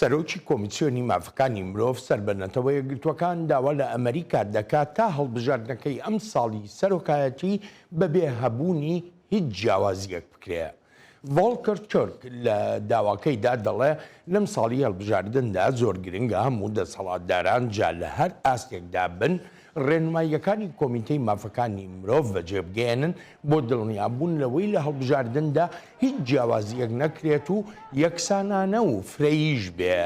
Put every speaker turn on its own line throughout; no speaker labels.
سەرۆکی کۆمیسیۆنی مافەکانی مرۆڤ سەر بە نەتەوە یەکگرتووەکان داوا لە ئەمریکا دەکات تا هەڵبژاردنەکەی ئەم ساڵی سەرۆکایەتی بەبێ هەبوونی هیچ جیاوازیەک بکرێت. ڤۆڵکەر تورک لە داواکەیدا دەڵێ، لەم ساڵی هەڵبژاردندا زۆر گرنگە هەموو دەسەڵاتداران جا لە هەر ئاستێکدا بن، ڕێنماییەکانی کۆمیتەی مافەکانی مرۆڤ بەجێبگەیەنن بۆ دڵنیابوون لەوەی لە هەڵبژاردندا هیچ جیاوازییەک نەکرێت و یەکسانانە و فرەییش بێ.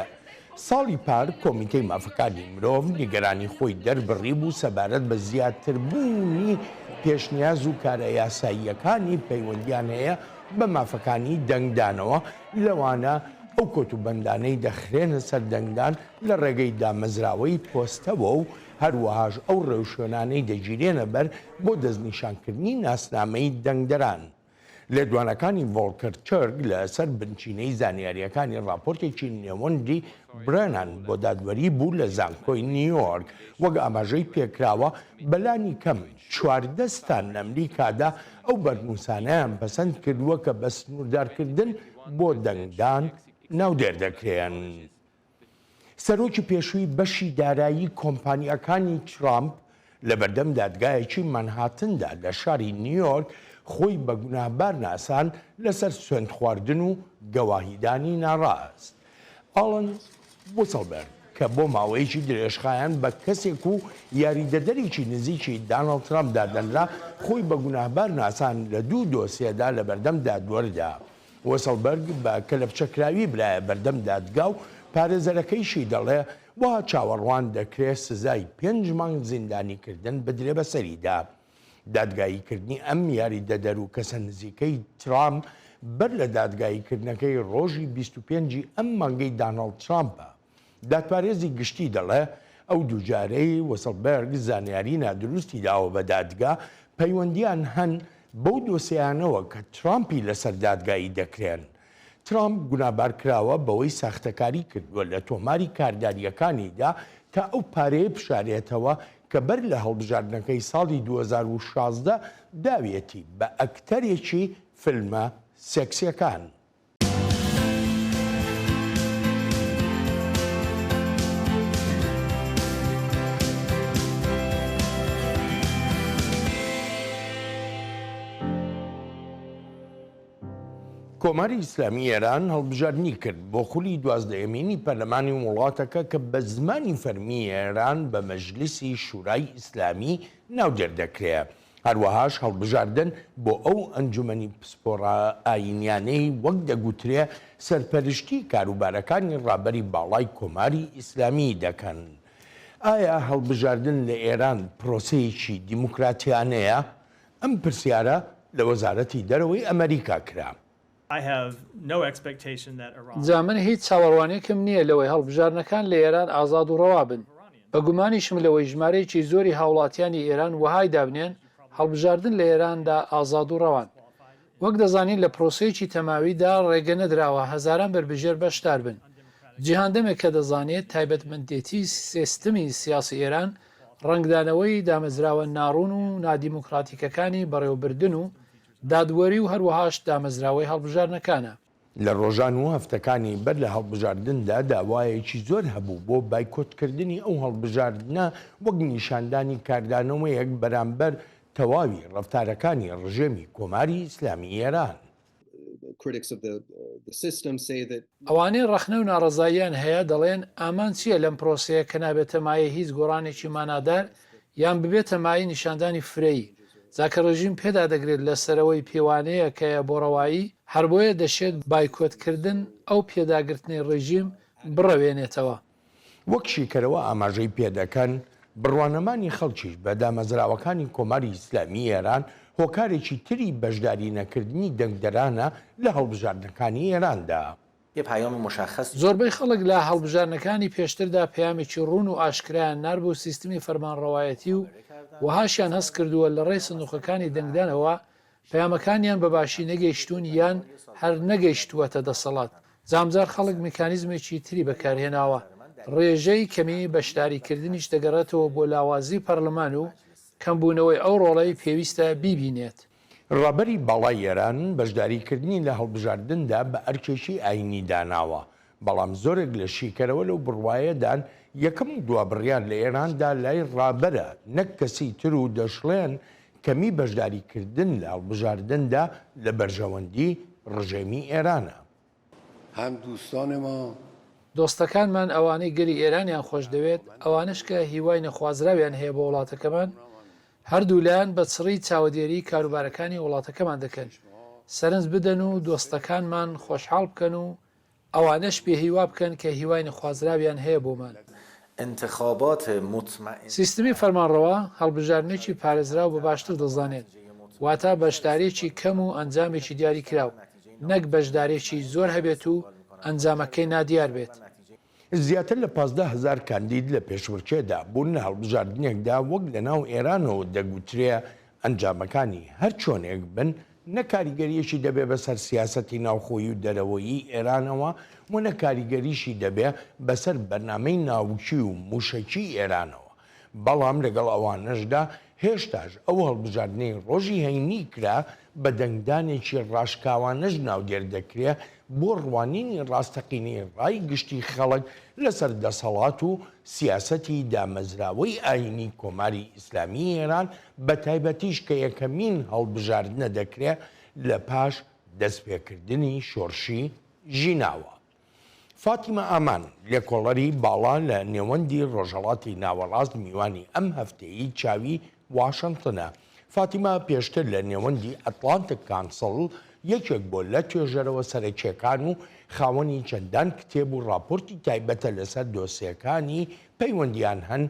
ساڵی پار کۆمیتەی مافەکانی مرۆڤ نیگەرانی خۆی دەربڕیبوو سەبارەت بە زیاتربوونی پێشنیاز و کارە یاساییەکانی پەیوەندییان هەیە بە مافەکانی دەنگدانەوە، لەوانە ئەو کۆتوبەندانەی دەخرێنە سەر دەنگدان لە ڕێگەی دامەزراوەی پۆستەوە و هەروەهاش ئەو ڕێوشوێنانەی دەگیرێنە بەر بۆ دەستنیشانکردنی ناسنامەی دەنگدەران. لێدوانەکانی ڤۆڵکەر تورک لە سەر بنچینەی زانیارییەکانی ڕاپۆرتێکی نێوەندی برێنان بۆ دادوەری بوو لە زانکۆی نیویۆرک. وەک ئاماژەی پێکراوە، بە لانی کەم چواردە ستان لە ئەمریکادا ئەو بەرنووسانەیان پەسەند کردووە کە بە سنووردارکردن بۆ دەنگدان ناودێر دەکرێن. سەرۆکی پێشووی بەشی دارایی کۆمپانیاکانی ترامپ لەبەردەم دادگایەکی مانهاتندا لە شاری نیویۆرک خۆی بە گوناهبار ناساند لەسەر سوێندخواردن و گەواهیدانی ناڕاست. ئاڵن وسڵبەرگ کە بۆ ماوەیەکی درێژخایەن بە کەسێک و یاریدەدەرێکی نزیکی دانڵد ترامپ دادەنرا، خۆی بە گوناهبار ناساند لە دوو دۆسیەدا لەبەردەم دادوەردا. وسڵبەرگ بە کەلەپچەکراوی برایە بەردەم دادگا و پارێزەرەکەیشی دەڵێ وا چاوەڕوان دەکرێ سزای پێنج مانگ زیندانیکردن بدرێ بەسەریدا. دادگاییکردنی ئەم یاریدەدەر و کەسە نزیکەی ترامپ بەر لە دادگاییکردنەکەی ڕۆژی بیست و پێنج ی ئەم مانگەی داناڵد ترامپە. دادپارێزی گشتی دەڵێ، ئەو دووجارەی وسڵبێرگ زانیاری نادروستی داوە بە دادگا، پەیوەندییان هەن بەو دۆسێیانەوە کە ترامپی لەسەر دادگایی دەکرێن. ترامپ گونابار کراوە بەوەی ساختەکاری کردووە لە تۆماری کاردارییەکانیدا تا ئەو پارەیە بشارێتەوە کە بەر لە هەڵبژاردنەکەی ساڵی دوو هەزار و شازدە داویەتی بە ئەکتەرێکی فیلمە سێکسییەکان. کۆماری ئیسلامی ئێران هەڵبژاردنی کرد بۆ خولی دوازدەیەمینی پەرلەمانی وڵاتەکە کە بە زمانی فەرمی ئێران بە مەجلیسی شورای ئیسلامی ناودێر دەکرێت هەروەهاش هەڵبژاردن بۆ ئەو ئەنجومەنی پسپۆڕە ئایینیانەی وەک دەگوترێ سەرپەرشتی کاروبارەکانی ڕابەری باڵای کۆماری ئیسلامی دەکەن. ئایا هەڵبژاردن لە ئێران پرۆسەیەکی دیموکراتیانەیە؟ ئەم پرسیارە لە وەزارەتی دەرەوەی ئەمەریکا کرا.
جا من هیچ چاوەڕوانییەکم نییە لەوەی هەڵبژاردنەکان لە ئێران ئازاد و ڕەوا بن. بە گومانیشم لەوەی ژمارەیەکی زۆری هاوڵاتیانی ئێران وەهای دابنێن هەڵبژاردن لە ئێراندا ئازاد و ڕەوان. وەک دەزانین لە پرۆسەیەکی تەماویدا ڕێگە نەدراوە هەزاران بەربژێر بەشدار بن. جیهان دەمێکە دەزانێت تایبەتمەندێتی سێستمی سیاسی ئێران ڕەنگدانەوەی دامەزراوە ناڕوون و نادیموکراتیکەکانی بەڕێوەبردن و دادوەری و هەروەهاش دامەزراوەی هەڵبژاردنەکانە. لە ڕۆژان
و هەفتەکانی بەر لە هەڵبژاردندا داوایەکی زۆر هەبوو بۆ بایکۆتکردنی ئەو هەڵبژاردنە وەک نیشاندانی کاردانەوەیەک بەرامبەر تەواوی ڕەفتارەکانی ڕژێمی کۆماری ئیسلامیی ئێران.
ئەوانەی ڕەخنە و ناڕەزاییان هەیە دەڵێن، ئامانج چییە لەم پرۆسەیە کە نابێتە مایەی هیچ گۆڕانێکی مانادار یان ببێتە مایەی نیشاندانی فرەیی، جا کە ڕێژیم پێدا دەگرێت لە سەرەوەی پێوانەیەکەیە بۆ ڕەوایی، هەر بۆیە دەشێت بایکۆتکردن ئەو پێداگرتنەی ڕێژیم بڕەوێنێتەوە. وەک
شیکەرەوە ئاماژەی پێ دەکەن، بڕوانەمانی خەڵکیش بە دامەزراوەکانی کۆماری ئیسلامی ئێران هۆکارێکی تری بەشداری نەکردنی دەنگدەرانە لە هەڵبژاردنەکانی ئێراندا. یه پیام مشخص.
زۆربەی خەڵک لە هەڵبژاردنەکانی پێشتردا پەیامێکی ڕوون و ئاشکرایان نارد بۆ سیستمی فەرمانڕەوایەتی و وەهاشیان هەست کردووە لەڕێی سندوقەکانی دەنگدانەوە پەیامەکانیان بەباشی نەگەیشتوون یان هەر نەگەیشتووەتە دەسەڵات، جامجار خەڵک میکانیزمێکی تری بەکارهێناوە، ڕێژەی کەمی بەشداریکردنیش دەگەڕێتەوە بۆ لاوازی پەرلەمان و کەمبوونەوەی ئەو ڕۆڵەی پێویستە بیبینێت. ڕابەری
باڵای ئێران بەشداری کردنی لە هەڵبژاردندا بە ئەرکێکی ئایینی داناوە، بەڵام زۆرێک لە شیکەرەوە لەو بڕوایەدان یەکەم و دوا بڕیار لە ئێراندا لای ڕابەرە نەک کەسی تر و دەشڵێن کەمی بەشداری کردن لە هەڵبژاردندا لە بەرژەوەندی ڕژێمی ئێرانە. هەم
دوستان ما. دۆستەکانمان
ئەوانەی گەلی ئێرانیان خۆشدەوێت، ئەوانەش کە هیوای نەخوازراویان هەیە بۆ وڵاتەکەمان، هەردوو لایەن بە چڕی چاوەدێریی کاروبارەکانی وڵاتەکەمان دەکەن، سەرنج بدەن و دۆستەکانمان خۆشحاڵ بکەن و ئەوانەش پێ هیوا بکەن کە هیوای نەخوازراویان هەیە بۆمان. انتخابات مطمئن. سیستمی فەرمانڕەوا، هەڵبژاردنێکی پارێزراو بە باشتر دەزانێت، واتا بەشدارێکی کەم و ئەنجامێکی دیاری کراو، نەک بەشدارێکی زۆر هەبێت و ئەنجامەکەی نادیار بێت. زیاتر
لە پازدە هەزار کاندید لە پێشبڕکێدا بوون، لە هەڵبژاردنێکدا وەک لە ناو ئێرانەوە دەگوترێ ئەنجامەکانی هەر چۆنێک بن، نە کاریگەرییەکی دەبێ بەسەر سیاسەتی ناوخۆیی و دەرەوەیی ئێرانەوە و نە کاریگەریشی دەبێ بەسەر بەرنامەی ناوکی و مووشەکیی ئێرانەوە. بەڵام لەگەڵ ئەوانەشدا هێشتاش ئەو هەڵبژاردنەی ڕۆژی هەینی کرا بە دەنگدانێکی ڕاشکاوانەش ناودێر دەکرێ بۆ ڕوانینی ڕاستەقینەی ڕای گشتی خەڵک لەسەر دەسەڵات و سیاسەتی دامەزراوەی ئایینی کۆماری ئیسلامیی ئێران بەتایبەتیش کە یەکەمین هەڵبژاردنە دەکرێ لەپاش دەستپێکردنی شۆرشی ژیناوە. فاتیمە ئامان، لێکۆڵەری باڵا لە نێوەندی ڕۆژهەڵاتی ناوەڕاست میوانی ئەم هەفتەیی چاوی واشنتنە. فاتیمە پێشتر لە نێوەندی ئەتلانتک کانسڵ یەکێک بۆ لە توێژەرەوە سەرەکیەکان و خاوەنی چەندان کتێب و ڕاپۆرتی تایبەتە لەسەر دۆسێکانی پەیوەندیان هەن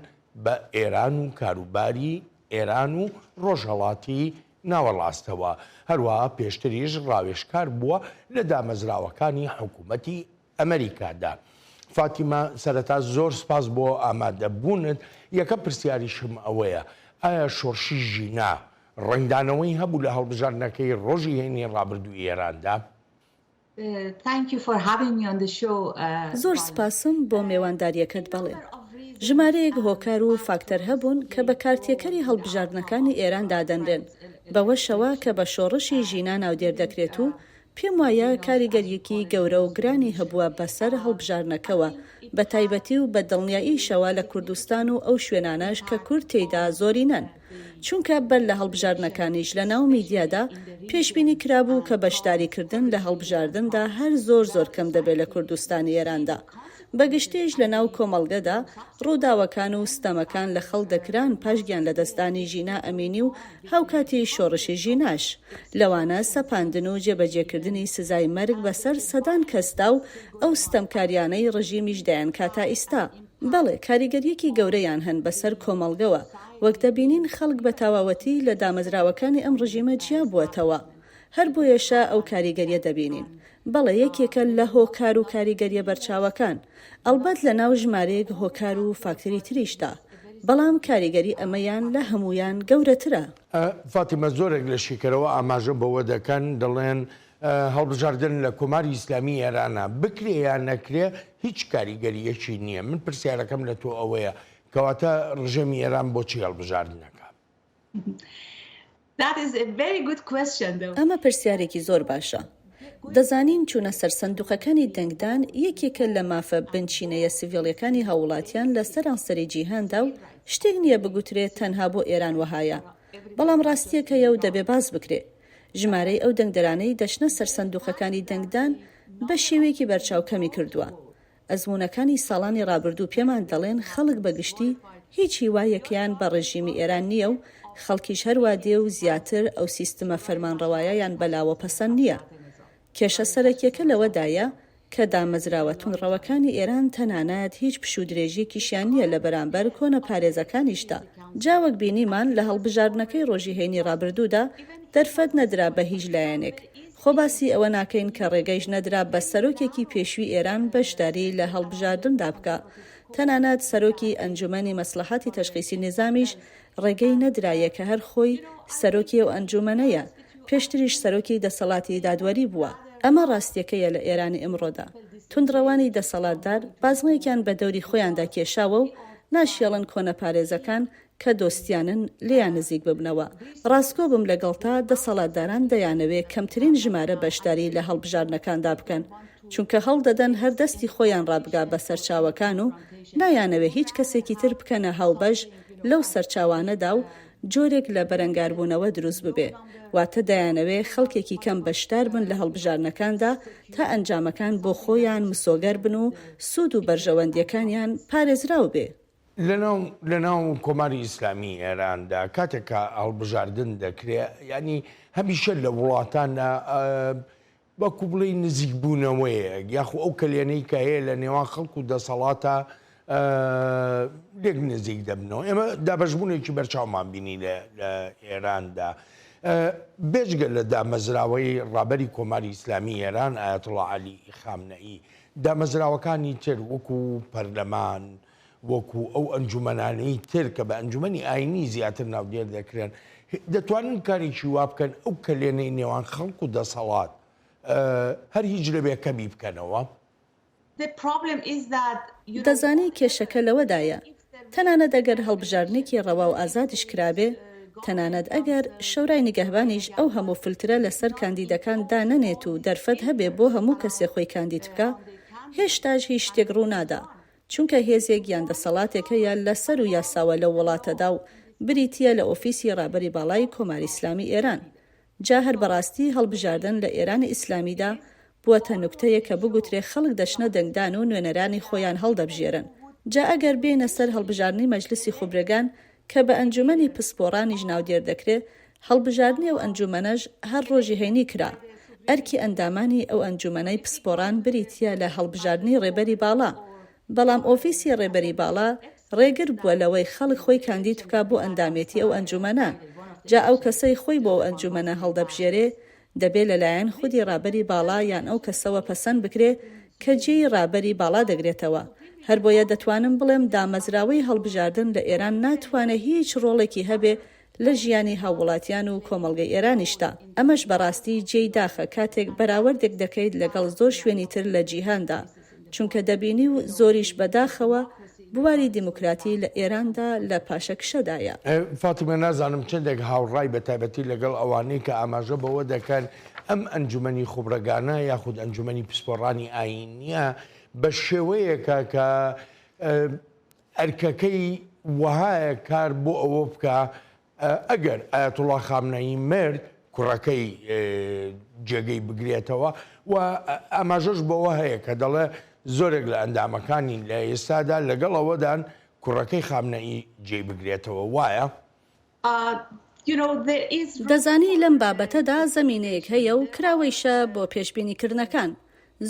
بە ئێران و کاروباری ئێران و ڕۆژهەڵاتی ناوەڕاستەوە، هەروەها پێشتریش ڕاوێژکار بووە لە دامەزراوەکانی حکوومەتی ئەمەریکادا. فاتیمە، سەرەتا زۆر سپاس بۆ ئامادەبوونت، یەکەم پرسیاریشم ئەوەیە، ئایا شۆڕشی ژینا ڕەنگدانەوەی هەبوو لە هەڵبژاردنەکەی ڕۆژی هەینی ڕابردووی ئێراندا؟ Thank you for having
me on the show Valerie زۆر سپاسم بۆ مێوانداریەکەت بەڵێ ژمارەیەک هۆکار و فاکتەر هەبوون کە بە کارتێکەری هەڵبژاردنەکانی ئێران دادەنرێن بەوەشەوە کە بە شۆڕشی ژینا ناودێر دەکرێت و پێم وایە کاریگەریەکی گەورە و گرانی هەبووە بەسەر هەڵبژاردنەکەوە بە تایبەتی و بە دڵنیاییشەوە لە کوردستان و ئەو شوێنانەش کە کورد تێیدا زۆرینەن. چونکە بەر لە هەڵبژاردنەکانیش لە ناو میدیادا پێشبینی کرابوو کە بەشداریکردن لە هەڵبژاردندا هەر زۆر زۆر کەم دەبێت لە کوردستانی ئێراندا. بە گشتیش لە ناو کۆمەڵگەدا ڕووداوەکان و ستەمەکان لە خەڵک دەکران پاش گیان لەدەستدانی ژینا ئەمینی و هاوکاتی شۆڕشی ژیناش لەوانە سەپاندن و جێبەجێکردنی سزای مەرگ بەسەر سەدان کەسدا و ئەو ستەمکاریانەی ڕژیمیش دەیانکا تا ئیستا. بەڵێ کاریگەریەکی گەورەیان هەن بەسەر کۆمەڵگەوە، وەک دەبینین خەڵک بە تاواوەتی لە دامەزراوەکانی ئەم ڕژیمە جیا بووەتەوە هەر بۆیەشە ئەو کاریگەریە دەبینین بەڵێ یەکێکە لە هۆکار و کاریگەریە بەرچاوەکان ئەڵبەت لە ناو ژمارەیەک هۆکار و فاکتەری تریشدا بەڵام کاریگەری ئەمەیان لە هەموویان گەورەترە. فاتیمە،
زۆرێک لە شیکەرەوە ئاماژە بەوە دەکەن دەڵێن هەڵبژاردن لە کۆماری ئیسلامی ئێرانا بکرێ یان نەکرێ هیچ کاریگەرییەکی نییە، من پرسیارەکەم لە تۆ ئەوەیە کەواتە ڕژێمی ئێران بۆچی هەڵبژاردن نەکا؟
ئەمە پرسیارێکی زۆر باشە. دەزانین چوونە سەر سندووقەکانی دەنگدان یەکێکە لە مافە بنچینەیە سڤیڵییەکانی هاووڵاتیان لە سەرانسەری جیهاندا و شتێک نییە بگوترێ تەنها بۆ ئێران وەهایە، بەڵام ڕاستییەک هەیە و دەبێ باس بکرێ. ژمارەی ئەو دەنگدەرانەی دەچنە سەر سەندوقەکانی دەنگدان بە شێوەیەکی بەرچاو کەمی کردووە. ئەزموونەکانی ساڵانی ڕابردوو پێمان دەڵێن خەڵک بە گشتی هیچ هیوایەکیان بە ڕێژیمی ئێران نییە و خەڵکیش هەروا دێ و زیاتر ئەو سیستمە فەرمانڕەوایەیان بەلاوە پەسەند نییە کێشە سەرەکیەکە لەوەدایە کە دامەزراوە توندڕەوەکانی ئێران تەنانەت هیچ پشوودرێژیەکیشیان نیە لە بەرامبەر کۆنەپارێزەکانیشدا، جا وەک بینیمان لە هەڵبژاردنەکەی ڕۆژی هەینی ڕابردوودا دەرفەت نەدرا بە هیچ لایەنێک، خۆ باسی ئەوە ناکەین کە ڕێگەیش نەدرا بە سەرۆکێکی پێشوی ئێران بەشداری لە هەڵبژاردندا بکا، تەنانەت سەرۆکی ئەنجومەنی مەسڵەحاتی تەشخیسی نیزامیش ڕێگەی نەدرایە کە هەر خۆی سەرۆکی ئەو ئەنجوومەنەیە، پێشتریش سەرۆکی دەسەڵاتی دادوەری بووە. ئەمە ڕاستییەکەیە لە ئێرانی ئیمڕۆدا. توندڕەوانی دەسەڵاتدار بازنەیەکیان بە دەوری خۆیاندا کێشاوە و ناشیەڵن کۆنەپارێزەکان کە دۆستیانن لێیان نزیک ببنەوە. ڕاستگۆ بم لەگەڵتا، دەسەڵاتداران دەیانەوێ کەمترین ژمارە بەشداری لە هەڵبژاردنەکاندا بکەن، چونکە هەوڵدەدەن هەر دەستی خۆیان ڕابگا بە سەرچاوەکان و نایانەوێ هیچ کەسێکی تر بکەنە هاوبەش، لەو سەرچاوانەدا و جۆرێک لە بەرەنگاربوونەوە دروست ببێ، واتە دەیانەوێ خەڵکێکی کەم بەشدار بن لە هەڵبژاردنەکاندا تا ئەنجامەکان بۆ خۆیان مسۆگەر بن و سوود و بەرژەوەندییەکانیان پارێزراو بێ. لەناو
لەناو کۆماری ئیسلامیی ئێراندا کاتێک کە هەڵبژاردن دەکرێ، یانی هەمیشە لە وڵاتان بەڵکو بڵێی نزیک بوونەوەیەک یاخو ئەو کەلێنەی کە هەیە لە نێوان خەڵک و دەسەڵاتە لێک نزیک دەبنەوە ئێمە دابەشبوونێکی بەرچاومان بینی لە ئێراندا بێجگە لە دامەزراوەی ڕابەری کۆماری ئیسلامی ئێران ئاەتڵ علی خامنەئی دامەزراوەکانی تر وەکو پەرلەمان وەکو ئەو ئەنجومەنانەی تر کە بە ئەنجومەنی ئاینی زیاتر ناودێر دەکرێن دەتوانن کارێکی وا بکەن ئەو کەلێنەی نێوان خەڵک و دەسەڵات هەر هیچ نەبێ کەمی بکەنەوە؟
دەزانی کێشەکە لەوەدایە، تەنانەت ئەگەر هەڵبژاردنێکی ڕەوا و ئازادیش کرابێ، تەنانەت ئەگەر شۆرای نیگەهبانیش ئەو هەموو فلترە لەسەر کاندیدەکان دانەنێت و دەرفەت هەبێ بۆ هەموو کەسێ خۆی کاندید بکا، هێشتاش هیچ شتێک ڕوونادا، چونکە هێزێک یان دەسەڵاتێک هەیە لە سەر و یاساوە لەو وڵاتەدا و بریتییە لە ئۆفیسی ڕابەری باڵای کۆماری ئیسلامی ئێران. جا هەر بەڕاستی هەڵبژاردن لە ئێرانی ئیسلامیدا بووەتە نوکتەیەک کە بگوترێ خەڵک دەچنە دەنگدان و نوێنەرانی خۆیان هەڵدەبژێرن. جا ئەگەر بێینە سەر هەڵبژاردنی مەجلسی خوبرەگان کە بە ئەنجوومەنی پسپۆڕانیش ناودێر دەکرێ، هەڵبژاردنی ئەو ئەنجوومەنەش هەر ڕۆژی هەینی کرا، ئەرکی ئەندامانی ئەو ئەنجوومەنەی پسپۆڕان بریتییە لە هەڵبژاردنی ڕێبەری باڵا، بەڵام ئۆفیسی ڕێبەری باڵا ڕێگر بووە لەوەی خەڵک خۆی کاندید بکا بۆ ئەندامێتی ئەو ئەنجوومەنە، جا ئەو کەسەی خۆی بۆ ئەو ئەنجوومەنە هەڵدەبژێرێ دەبێ لە لایەن خودی ڕابەری باڵا یان ئەو کەسەوە پەسەند بکرێ کە جێی ڕابەری باڵا دەگرێتەوە. هەر بۆیە دەتوانم بڵێم دامەزراوەی هەڵبژاردن لە ئێران ناتوانێ هیچ ڕۆڵێکی هەبێ لە ژیانی هاووڵاتیان و کۆمەڵگەی ئێرانیشدا. ئەمەش بە ڕاستی جێی داخە کاتێک بەراوەردێک دەکەیت لەگەڵ زۆر شوێنی تر لە جیهاندا. چونکە دەبینی و زۆریش بەداخەوە بواری دیموکراتی لە ئێراندا لە پاشەکشەدایە. فاتیمە،
نازانم چەندێک هاوڕای بە تایبەتی لەگەڵ ئەوانەی کە ئاماژە بەوە دەکەن ئەم ئەنجومەنی خوبرەگانە یاخود ئەنجومەنی پسپۆڕانی ئایینییە بە شێوەیەکە کە ئەرکەکەی وەهایە کار بۆ ئەوە بکا ئەگەر ئایەتوڵا خامنەیی مرد، کوڕەکەی جێگەی بگرێتەوە و ئاماژەش بەوە هەیە کە دەڵێ زۆرێک لە ئەندامەکانی لە ئێستادا لەگەڵ ئەوەدان کوڕەکەی خامنەیی جێی بگرێتەوە، وایە؟
دەزانی لەم بابەتەدا زەمینەیەک هەیە و کراوەیشە بۆ پێشبینیکردنەکان.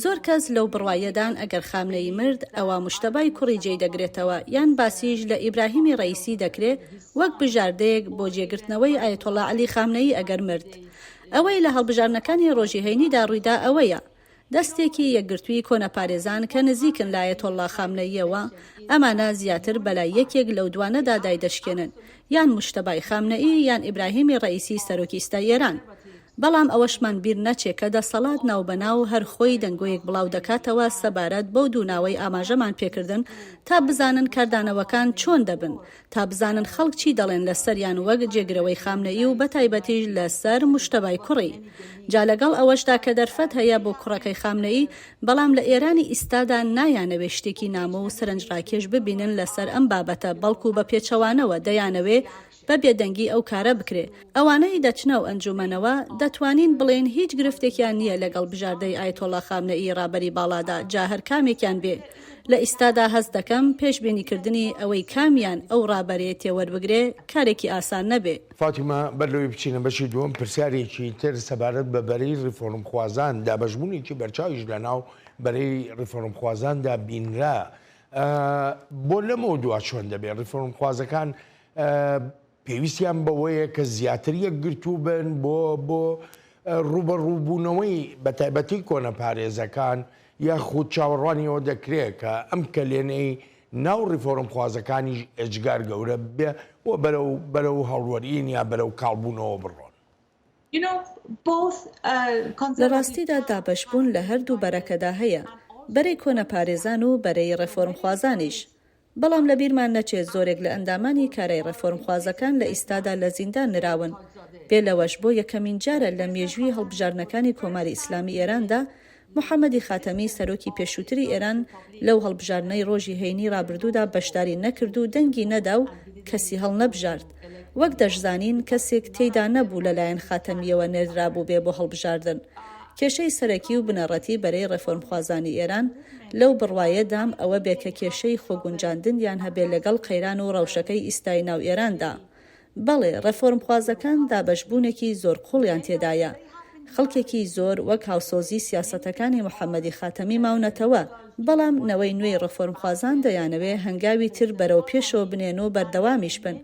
زۆر کەس لەو بڕوایەدان ئەگەر خامنەیی مرد ئەوا موشتەبای کوڕی جێی دەگرێتەوە یان باسیش لە ئیبراهیمی ڕەییسی دەکرێ وەک بژاردەیەک بۆ جێگرتنەوەی ئایەتۆڵا عەلی خامنەیی ئەگەر مرد ئەوەی لە هەڵبژاردنەکانی ڕۆژی هەینیدا ڕوویدا ئەوەیە دەستێکی یەکگرتووی کۆنەپارێزان کە نزیکن لە ئایەتۆڵا خامنەییەوە ئەمانە زیاتر بەلای یەکێک لەو دوانەدا دایدەشکێنن یان موشتەبای خامنەیی یان ئیبراهیمی ڕەییسی سەرۆکی ئیستای ئێران بەڵام ئەوەشمان بیر نەچێ کە دەسەڵات ناوبەناو هەر خۆی دەنگۆیەک بڵاو دەکاتەوە سەبارەت بەو دوو ناوەی ئاماژەمان پێکردن تا بزانن کاردانەوەکان چۆن دەبن، تا بزانن خەڵک چی دەڵێن لە سەریان وەک جێگرەوەی خامنەئی و بەتایبەتیش لە سەر مجتبی کوڕی. جا لەگەڵ ئەوەشدا کە دەرفەت هەیە بۆ کوڕەکەی خامنەئی، بەڵام لە ئێرانی ئیستادا نایانەوێ شتێکی نامۆ و سەرنجڕاکێش ببینن لە سەر ئەم بابەتە بەڵکو بە پێچەوانەوە دەیانەوێ بە بێدەنگی ئەو کارە بکرێ. ئەوانەی دەچنە ئەو ئەنجوومەنەوە، دەتوانین بڵێین هیچ گرفتێکیان نییە لەگەڵ بژاردەی ئایەتۆڵڵا خامنەئی رابەری باڵادا، جا هەر کامێکیان بێ. لە ئیستادا هەست دەکەم پێشبینیکردنی ئەوەی کامیان ئەو رابەرەیە تێوەربگرێ، کارێکی ئاسان نەبێ. فاتیمە، بەر لەوەی
بچینە بەشی دووەم، پرسیارێکی تر سەبارەت بە بەرەی ریفۆرمخوازان، دابەشبوونێکی بەرچاویش لەناو بەرەی ریفۆرمخوازاندا بینرا. بۆ لەمەودوا چۆن دەبێ؟ ریفۆرمخوازەکان پێویستیان بەوەیە کە زیاتر یەکگرتوو بن بۆ بۆ ڕوبەڕووبوونەوەی بە تایبەتی کۆنە پارێزەکان یاخود چاوەڕوانیەوە دەکرێت کە ئەم کەلێنەی ناو ڕیفۆرم خوازەکانیش ئێجگار گەورە بێ و بەرەو بەرەو هەڵوەرین یا بەرەو کاڵبوونەوە بڕۆن.
لە ڕاستیدا دابەشبوون لە هەردوو بەرەکەدا هەیە، بەرەی کۆنەپارێزان و بەرەی ڕێفۆرمخوازانیش. بەڵام لە بیرمان نەچێت زۆرێک لە ئەندامانی کارای ڕێفۆرمخوازەکان لە ئیستادا لە زیندان نراون. بێ لەوەش بۆ یەکەمین جارە لە مێژووی هەڵبژاردنەکانی کۆماری ئیسلامی ئێراندا محەمەدی خاتەمی سەرۆکی پێشووتری ئێران لەو هەڵبژاردنەی ڕۆژی هەینی ڕابردوودا بەشداری نەکرد و دەنگی نەدا و کەسی هەڵنەبژارد. وەک دەشزانین کەسێک تێیدا نەبوو لە لایەن خاتەمییەوە نێردرابووبێ بۆ هەڵبژاردن. کێشەی سەرەکی و بنەڕەتی بەرەی ڕێفۆرمخوازانی ئێران لەو بڕوایەدام ئەوە بێ کە کێشەی خۆگونجاندنیان هەبێ لەگەڵ قەیران و ڕەوشەکەی ئیستای ناو ئێراندا. بەڵێ ڕێفۆرمخوازەکان دابەشبوونێکی زۆر قوڵیان تێدایە، خەڵکێکی زۆر وەک هاوسۆزی سیاسەتەکانی محەمەدی خاتەمی ماونەتەوە، بەڵام نەوەی نوێی ڕێفۆرمخوازان دەیانەوێ هەنگاوی تر بەرەو پێشەوە بنێن و بەردەوامیش بن،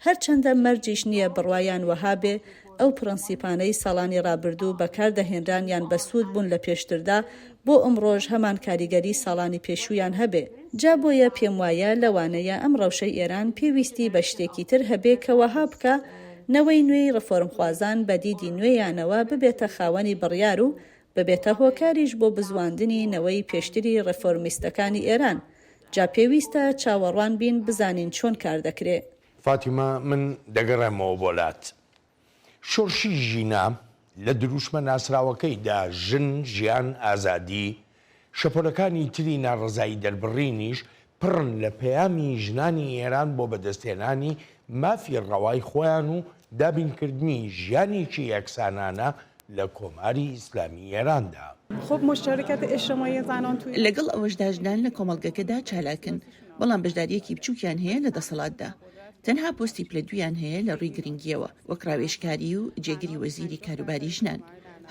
هەرچەندە مەرجیش نییە بڕوایان وەها بێ، ئەو پڕەنسیپانەی ساڵانی ڕابردوو بەکار دەهێنران یان بەسوود بوون لە پێشتردا، بۆ ئەمڕۆش هەمان کاریگەری ساڵانی پێشوویان هەبێ. جا بۆیە پێم وایە لەوانەیە ئەم ڕەوشەی ئێران پێویستی بە شتێکی تر هەبێ کە وەها بکا نەوەی نوێی ڕفۆرمخوازان بە دیدی نوێیانەوە ببێتە خاوەنی بڕیار و ببێتە هۆکاریش بۆ بزواندنی نەوەی پێشتری ڕفۆرمیستەکانی ئێران. جا پێویستە چاوەڕوان بین بزانین چۆن کار دەکرێ. فاتیمە من
دەگەڕێمەوە بۆ لات. شۆرشی ژینا لە درووشمە ناسراوەکەیدا، ژن، ژیان، ئازادی، شەپۆلەکانی تری ناڕەزایی دەربڕینیش پڕن لە پەیامی ژنانی ئێران بۆ بەدەستهێنانی مافی ڕەوای خۆیان و دابینکردنی ژیانێکی یەکسانانە لە کۆماری ئیسلامی ئێراندا.
لەگەڵ ئەوەشدا ژنان لە کۆمەڵگەکەدا چالاکن، بەڵام بەشدارییەکی بچووکیان هەیە لە دەسەڵاتدا. تەنها پۆستی پلە دوویان هەیە لە ڕووی گرنگییەوە، وەک ڕاوێژکاری و جێگری وەزیری کاروباری ژنان.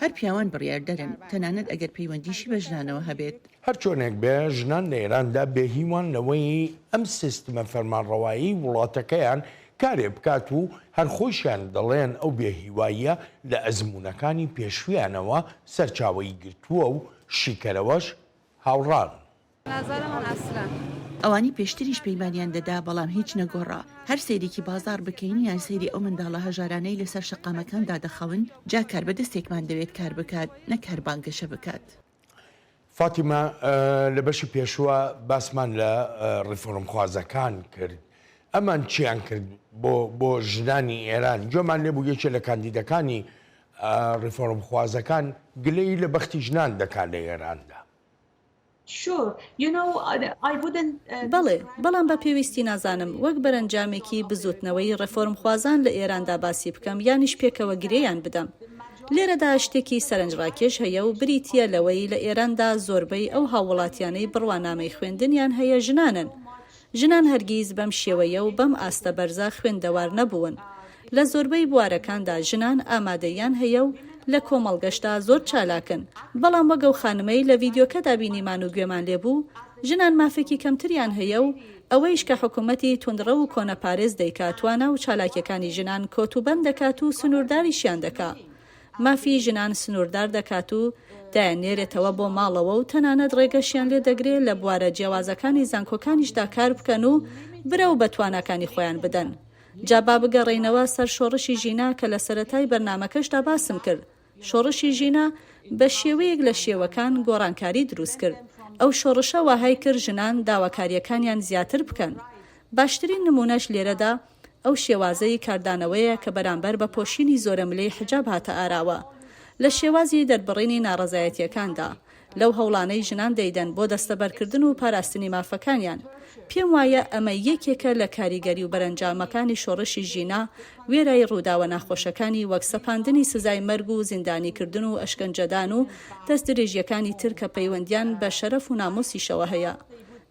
هەر پیاوان بڕیاردەرن، تەنانەت ئەگەر پەیوەندیشی بە ژنانەوە هەبێت. هەرچۆنێک بێ،
ژنان لە ئێراندا بێهیوان لەوەی ئەم سیستمە فەرمانڕەوایی وڵاتەکەیان کارێ بکات و هەر خۆیشیان دەڵێن ئەو بێ هیواییە لە ئەزموونەکانی پێشوویانەوە سەرچاوەی گرتووە و شیکەرەوەش هاوڕان.
ئەوانی پێشتریش پەیمانیان دەدا بەڵام هیچ نەگۆڕا، هەر سەیرێکی بازاڕ بکەین یان سەیری ئەو منداڵە هەژارانەی لەسەر شەقامەکان دادەخەون، جا کاربەدەستێکمان دەوێت کار بکات نەک هەر بانگەشە بکات. فاتیمە،
لە بەشی پێشووە باسمان لە ڕیفۆرمخوازەکان کرد، ئەمان چیان کرد بۆ ژنانی ئێران، گوێمان لێ بوو یەکێ لە کاندیدەکانی ڕیفۆرمخوازەکان گلەیی لە بەختی ژنان دەکات لە ئێراندا.
بەڵێ، بەڵام بە پێویستی نازانم وەک بەرەنجامێکی بزووتنەوەی ڕێفۆرمخوازان لە ئێراندا باسی بکەم یانیش پێکەوە گرێیان بدەم. لێرەدا شتێکی سەرنجڕاکێش هەیە و بریتییە لەوەی لە ئێراندا زۆربەی ئەو هاووڵاتیانەی بڕوانامەی خوێندنیان هەیە ژنانن. ژنان هەرگیز بەم شێوەیە و بەم ئاستە بەرزە خوێندەوار نەبوون. لە زۆربەی بوارەکاندا ژنان ئامادەییان هەیە و لە کۆمەڵگەشدا زۆر چالاکن. بەڵام وەک ئەو خانمەی لە ڤیدیۆکەدا بینیمان و گوێمان لێ بوو، ژنان مافێکی کەمتریان هەیە و ئەوەیش کە حکوومەتی توندڕەو و کۆنەپارێز دەیکا توانا و چالاکییەکانی ژنان کۆتوبەند دەکات و سنوورداریشیان دەکا، مافی ژنان سنووردار دەکات و دایاننێرێتەوە بۆ ماڵەوە و تەنانەت ڕێگەشیان لێ دەگرێ لە بوارە جیاوازەکانی زانکۆکانیشدا کار بکەن و برەو بە تواناکانی خۆیان بدەن. جا با بگەڕێینەوە سەر شۆڕشی ژینا کە لە سەرەتای بەرنامەکەشدا باسم کرد، شۆڕشی ژینا بە شێوەیەک لە شێوەکان گۆڕانکاری دروست کرد. ئەو شۆڕشە واهای کرد ژنان داواکارییەکانیان زیاتر بکەن. باشترین نموونەش لێرەدا ئەو شێوازەی کاردانەوەیە کە بەرامبەر بە پۆشینی زۆرەملێی حیجاب هاتە ئاراوە لە شێوازی دەربڕینی ناڕەزایەتییەکاندا، لەو هەوڵانەی ژنان دەیدەن بۆ دەستەبەرکردن و پاراستنی مافەکانیان. پێم وایە ئەمە یەکێکە لە کاریگەری و بەرەنجامەکانی شۆڕشی ژینا، وێرای ڕووداوە ناخۆشەکانی وەک سەپاندنی سزای مەرگ و زیندانیکردن و ئەشکەنجەدان و دەستدرێژییەکانی تر کە پەیوەندییان بە شەرەف و ناموسیشەوە هەیە.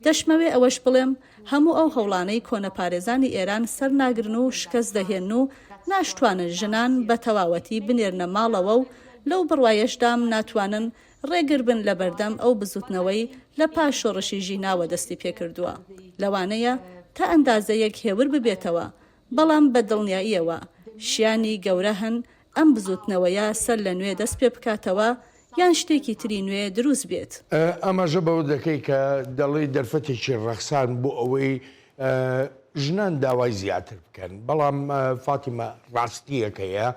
دەشمەوێ ئەوەش بڵێم، هەموو ئەو هەوڵانەی کۆنەپارێزانی ئێران سەرناگرن و شکەست دەهێن و ناشتوانن ژنان بە تەواوەتی بنێرنە ماڵەوە و لەو بڕوایەشدام ناتوانن ڕێگر بن لە بەردەم ئەو بزوتنەوەی لە پاش شۆڕشی ژیناوە دەستی پێکردووە لەوانەیە تا ئەندازەیەک هێور ببێتەوە بەڵام بە دڵنیاییەوە شیانی گەورە هەن ئەم بزوتنەوەیە سەر لە نوێ دەست پێ بکاتەوە یان شتێکی تری نوێ دروست بێت. ئاماژە بەوە
دەکەی کە دەڵێی دەرفەتێکی ڕەخسان بۆ ئەوەی ژنان داوای زیاتر بکەن، بەڵام فاتیمە ڕاستییەکەیە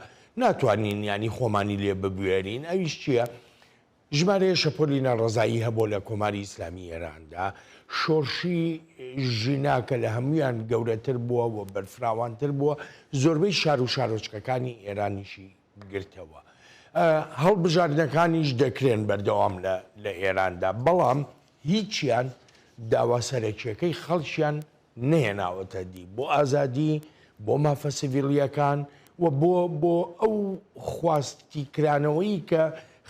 ناتوانین یانی خۆمانی لێ ببوێرین، ئەویش چییە؟ ژمارەیە شەپۆلی ناڕەزایی هەبوە لە کۆماری ئیسلامی ئێراندا، شۆرشی ژینا کە لە هەموویان گەورەتر بووە و بەرفراوانتر بووە، زۆربەی شار و شارۆچکەکانی ئێرانیشی گرتەوە. هەڵبژاردنەکانیش دەکرێن بەردەوام لە ئێراندا، بەڵام هیچیان داوا سەرەکییەکەی خەڵکیان نەهێناوەتە دی بۆ ئازادی، بۆ مافە سڤیلییەکان و بۆ بۆ ئەو خواستی کرانەوەی کە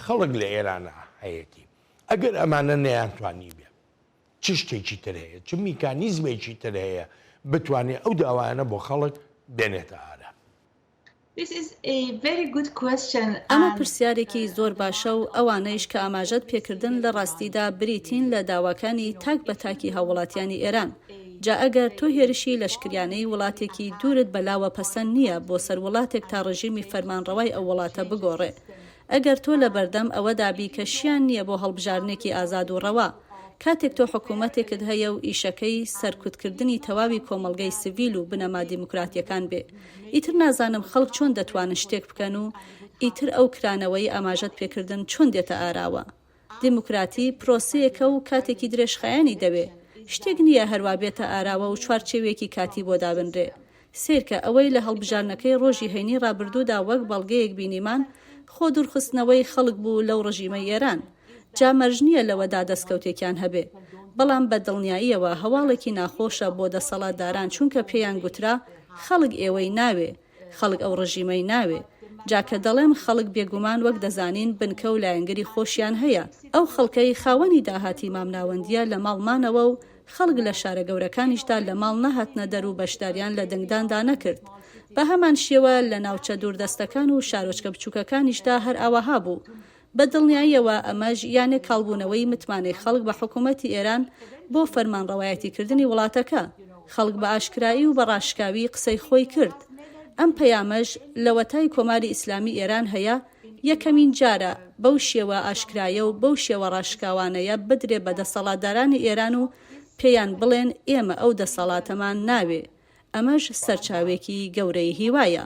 خەڵک لە ئێرانە هەیەتی. ئەگەر ئەمانە نەیانتوانیبێ چ شتێکی تر هەیە، چ میکانیزمێکی تر هەیە بتوانێ ئەو داوایانە بۆ خەڵک بێنێتە ئارا؟
ئەمە پرسیارێکی زۆر باشە و ئەوانەیش کە ئاماژەت پێکردن لە ڕاستیدا بریتین لە داواکانی تاک بە تاکی هاووڵاتیانی ئێران. جا ئەگەر تۆ هێرشی لەشکریانەی وڵاتێکی دوورت بە لاوە پەسەند نییە بۆ سەر وڵاتێک تا ڕژیمی فەرمانڕەوای ئەو وڵاتە بگۆڕێ. ئەگەر تۆ لە بەردەم ئەوەدا بی کە شیان نییە بۆ هەڵبژاردنێکی ئازاد و ڕەوا. کاتێک تۆ حکوومەتێکت هەیە و ئیشەکەی سەرکوتکردنی تەواوی کۆمەڵگەی سڤیل و بنەما دیموکراتییەکان بێ. ئیتر نازانم خەڵک چۆن دەتوانن شتێک بکەن و ئیتر ئەو کرانەوەی ئاماژەت پێکردن چۆن دێتە ئاراوە؟ دیموکراتی پرۆسەیەکە و کاتێکی درێژخایەنی دەوێ. شتێک نییە هەروا بێتە ئاراوە و چوارچێوێکی کاتی بۆ دابنرێ. سەیرکە ئەوەی لە هەڵبژاردنەکەی ڕۆژی هەینی ڕابردوودا وەک بەڵگەیەک بینیمان خۆ دوورخستنەوەی خەڵک بوو لەو ڕژیمەی ئێران. جا مەرج نییە لەوەدا دەستکەوتێکیان هەبێ، بەڵام بە دڵنیاییەوە هەواڵێکی ناخۆشە بۆ دەسەڵاتداران چونکە پێیان گوترا خەڵک ئێوەی ناوێ، خەڵک ئەو ڕژیمەی ناوێ. جا کە دەڵێم خەڵک بێگومان وەک دەزانین بنکە و لایەنگری خۆشیان هەیە، ئەو خەڵکەی خاوەنی داهاتی مامناوەندییە لە ماڵ مانەوە و خەڵک لە شارە گەورەکانیشدا لە ماڵ نەهاتنە دەر و بەشداریان لە دەنگداندا نەکرد. بە هەمان شێوە لە ناوچە دووردەستەکان و شارۆچکە بچووکەکانیشدا هەر ئاوەها بوو. بە دڵنیاییەوە ئەمەش یانێ کاڵبوونەوەی متمانەی خەڵک بە حکوومەتی ئێران بۆ فەرمانڕەوایەتیکردنی وڵاتەکە. خەڵک بە ئاشکرایی و بە ڕاشکاوی قسەی خۆی کرد. ئەم پەیامەش لەوەتای کۆماری ئیسلامی ئێران هەیە، یەکەمین جارە بەو شێوە ئاشکرایە و بەو شێوە ڕاشکاوانەیە بدرێ بە دەسەڵاتدارانی ئێران و پێیان بڵێن ئێمە ئەو دەسەڵاتەمان ناوێ. ئەمەش سەرچاوێکی گەورەی هیوایە.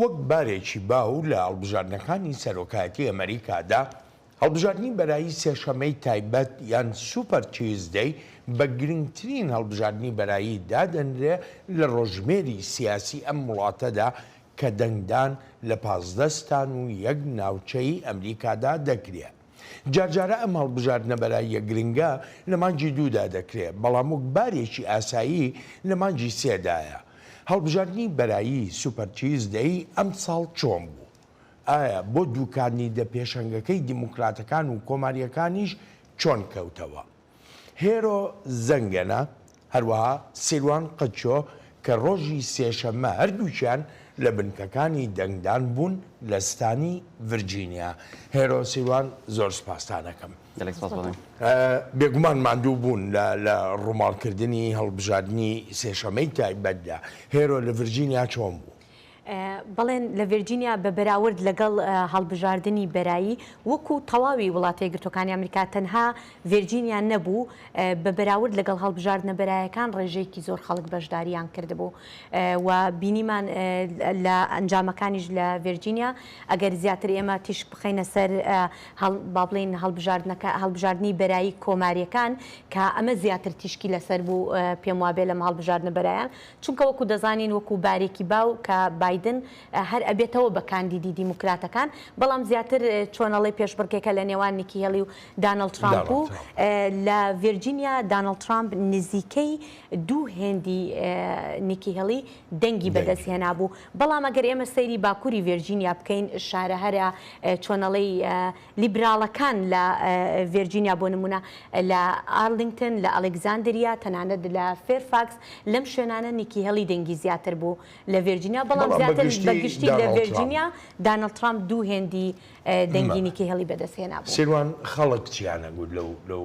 وەک بارێکی باو لە هەڵبژاردنەکانی سەرۆکایەتی ئەمەریکادا، هەڵبژاردنی بەرایی سێشەمەی تایبەت یان سوپەر تیوزدەی بە گرنگترین هەڵبژاردنی بەرایی دادەنرێ لە ڕۆژژمێری سیاسی ئەم وڵاتەدا کە دەنگدان لە پازدە ستان و یەک ناوچەی ئەمریکادا دەکرێ. جارجارە ئەم هەڵبژاردنە بەراییە گرنگە لە مانگی دوودا دەکرێت، بەڵام وەک بارێکی ئاسایی لە مانگی سێدایە. هەڵبژاردنی بەرایی سوپەر تیوزدەی ئەمساڵ چۆن بوو؟ ئایا بۆ دوو کاندیدە پێشەنگەکەی دیموکراتەکان و کۆمارییەکانیش چۆن کەوتەوە؟ هێرۆ زەنگەنە، هەروەها سیروان قەچۆ کە ڕۆژی سێشەممە هەردووکیان لە بنکەکانی دەنگدان بوون لە ستانی ڤرجینیا. هێرۆ سیروان زۆر سوپاستان ئەکەم. گەلێک سوپاس بۆ من. بێگومان ماندوو بوون لە ڕووماڵکردنی هەڵبژاردنی سێشەممەی تایبەتدا. هێرۆ لە ڤرجینیا چۆن بوو؟
بەڵێن لە ڤێرجینیا بە بەراورد لەگەڵ هەڵبژاردنی بەرایی وەکو تەواوی وڵاتە یەکگرتووەکانی ئەمریکا تەنها ڤێرجینیا نەبوو بە بەراورد لەگەڵ هەڵبژاردنە بەرایەکان ڕێژەیەکی زۆر خەڵک بەشدارییان کردبوو و بینیمان لە ئەنجامەکانیش لە ڤێرجینیا ئەگەر زیاتر ئێمە تیشک بخەینە سەر با بڵێین هەڵبژاردنەکە هەڵبژاردنی بەرایی کۆمارییەکان کە ئەمە زیاتر تیشکی لەسەر بوو پێم وابێ لەم هەڵبژاردنە بەرایان چونکە وەکو دەزانین وەکو بارێکی باو کە بایدن هەر ئەبێتەوە بە کاندیدی دیموکراتەکان بەڵام زیاتر چۆن ئەڵێی پێشبڕکێکە لە نێوان نیکی هێڵی و دانڵد ترامپ و لە ڤێرجینیا دانڵد ترامپ نزیکەی دوو هێندی نیکی هێڵی دەنگی بەدەست هێنابوو بەڵام ئەگەر ئێمە سەیری باکوری ڤێرجینیا بکەین شارە هەرە چۆن ئەڵێی لیبراڵەکان لە ڤێرجینیا بۆ نموونە لە ئارلینگتن، لە ئەلێکزاندریا، تەنانەت لە فێرفاکس، لەم شوێنانە نیکی هێڵی دەنگی زیاتر بوو لە ڤێرجینیا، بەڵام بەڵام زیاتر بە بەگشتی گشتی لە دانۆڵد ترامپ. ڤێرجینیا دانۆڵد ترامپ دوو هێندی دەنگی مەبە. نیکی هێڵی بەدەست هێنابوو. سیروان خەڵک
چیانەگوت لەو لەو.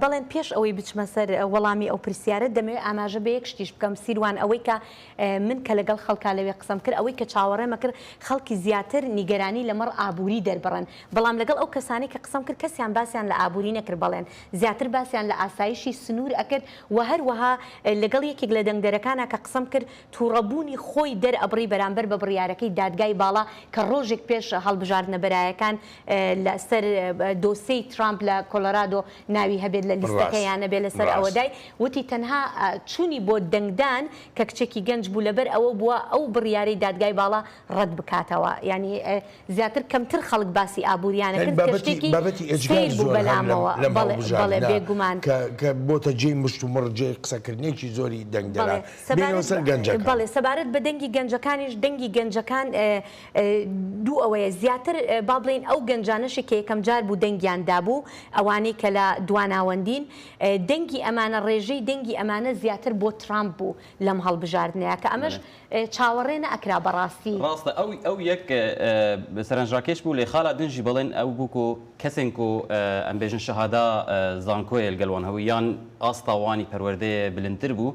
بەڵێن
پێش ئەوەی بچمە سەر وەڵامی ئەو پرسیارەت دەمەوێت ئاماژە بەیەک شتیش بکەم سیروان ئەوەی کە من کە لەگەڵ خەڵکا لەوێ قسەم کرد ئەوەی کە چاوەڕێمە کرد خەڵکی زیاتر نیگەرانی لەمەڕ ئابوری دەربڕن بەڵام لەگەڵ ئەو کەسانەی کە قسەم کرد کەسیان باسیان لە ئابوری نەکرد بەڵێن زیاتر باسیان لە ئاسایشی سنور ئەکرد وە هەروەها لەگەڵ یەکێک لە دەنگدەرەکانا کە قسەم کرد توڕە بوونی خۆی دەرئەبڕی بەرامبەر بە بڕیارەکەی دادگای باڵا کە ڕۆژێک پێش هەڵبژاردنە بەرایەکان لە سەر دۆسێی ترامپ لە کۆلۆرادۆ ناوی هەبێت لە لیستەکە یان نەبێت لە سەر ئەوە دای وتی تەنها چوونی بۆ دەنگدان کە کچێکی گەنج بوو لەبەر ئەوە بووە ئەو بڕیارەی دادگای باڵا ڕەت بکاتەوە یانی زیاتر کەمتر خەڵک باسی ئابووریانە کرد کە شتێکی بابەتی ئێجگار زۆر بەلامەوە لە ماڵبژاردنە بەڵێ بێگومان کە بۆتە
جێی مشتومڕ جێی قسەکردنێکی زۆری دەنگدەران
بەڵێ سەبارەت بە دەنگی گەنجەکانیش دەنگی گەنجەکان دوو ئەوەیە زیاتر با بڵێین ئەو گەنجانەشی کە یەکەم جار بوو دەنگیان دابوو، ئەوانەی کە لە دوا ناوەندین، دەنگی ئەمانە ڕێژەی دەنگی ئەمانە زیاتر بۆ ترامپ بوو لەم هەڵبژاردنەیا کە ئەمەش چاوەڕێ نەئەکرا بە ڕاستی. ڕاستە ئەو ئەو
یەک سەرنجراکێش بوو لێ خالا دنجی بەڵێن ئەو بوو کۆ کەسێن کۆ ئەمبێژن شەهادا زانکۆێل گەلوان هەووی یان ئاستا وانی پەروەردەێ بلندتر بوو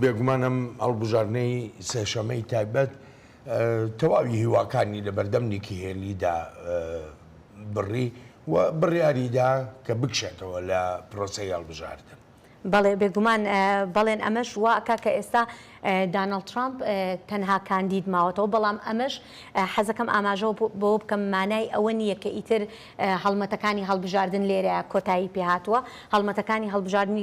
بێگومان
ئەم هەڵبژاردنەی سێشەمەی تایبەت تەواوی هیواکانی لە بەردەم نیکی هێلیدا بڕی و بڕیاریدا کە بکشێتەوە لە پرۆسی هەڵبژاردن. بەڵێ بێگومان
بەڵێن ئەمەش واکە کە ئێستا دانەڵ ترامپ تەنها کاندید ماوەتەوە بەڵام ئەمەش حەزەکەم ئاماژەوە بۆ بکەم مانای ئەوە نییە کە ئیتر هەڵمەتەکانی هەڵبژاردن لێرە کۆتایی پێهاتووە هەڵمەتەکانی هەڵبژاردننی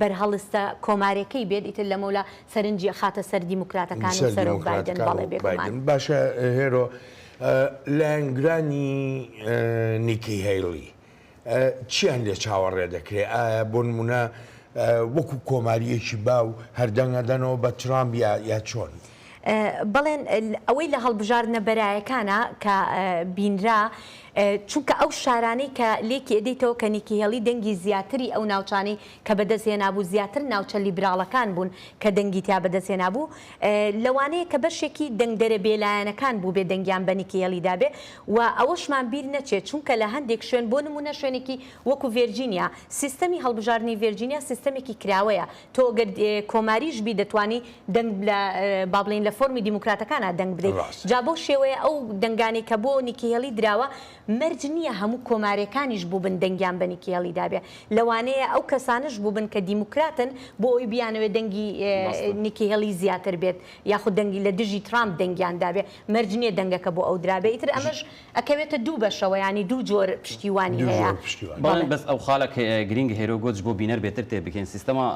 بەرهەڵستە کۆمارێکەی بێت ئیتر لەمەولا سەرنجی ئەخاتە سەر دیموکراتەکان و سەرۆک بایدن بەڵێ بێگومان. باشە هێرۆ
لایەنگرانی نیکی هەیڵی چیان لێ چاوەڕێ دەکرێ ئایا بۆ نمونە وەکو کۆماریەکی باو هەردەنگە دەنەوە بە ترامپ یا چۆن؟ بەڵێن
ئەوەی لە هەڵبژاردنە بەرایەکانە کە بینرا چونکە ئەو شارانەی کە لێکی ئەدەیتەوە کە نیکیهێڵی دەنگی زیاتری ئەو ناوچانەی کە بەدەستهێنابوو زیاتر ناوچە لیبراڵەکان بوون کە دەنگی تیا بەدەستهێنابوو لەوانەیە کە بەشێکی دەنگدەرە بێلایەنەکان بووبێ دەنگیان بە نیکیهێڵی دابێ و ئەوەشمان بیر نەچێت چونکە لە هەندێک شوێن بۆ نموونە شوێنێکی وەکو ڤێرجینیا سیستەمی هەڵبژاردنی ڤێرجینیا سیستەمێکی کراوەیە تۆ گەر کۆماریش بی دەتوانی دەنگ لە بابلین لە فۆرمی دیموکراتەکانا دەنگ بدەیت جا بەو شێوەیە ئەو دەنگانەی کە بۆ نیکیهێڵی دراوە مەرج نییە هەموو کۆمارەکانیش بووبن دەنگیان بە نیکیهێڵی دابێ لەوانەیە ئەو کەسانش بووبن کە دیموکراتن بۆ ئەوی بیانەوێت دەنگی نیکیهێڵی زیاتر بێت یاخود دەنگی لە دژی ترامپ دەنگیان دابێ مەرج نییە دەنگەکە بۆ ئەو درابێ ئیتر ئەمەش ئەکەوێتە دوو بەشەوە یانی دوو جۆر پشتیوانی دوو هەیە. جۆر پشتیوانی. بەڵێ بەس ئەو
خالە ک گرینگە هێرۆ گۆتج بۆ بینەر بێتر تێ بگەین سیستەما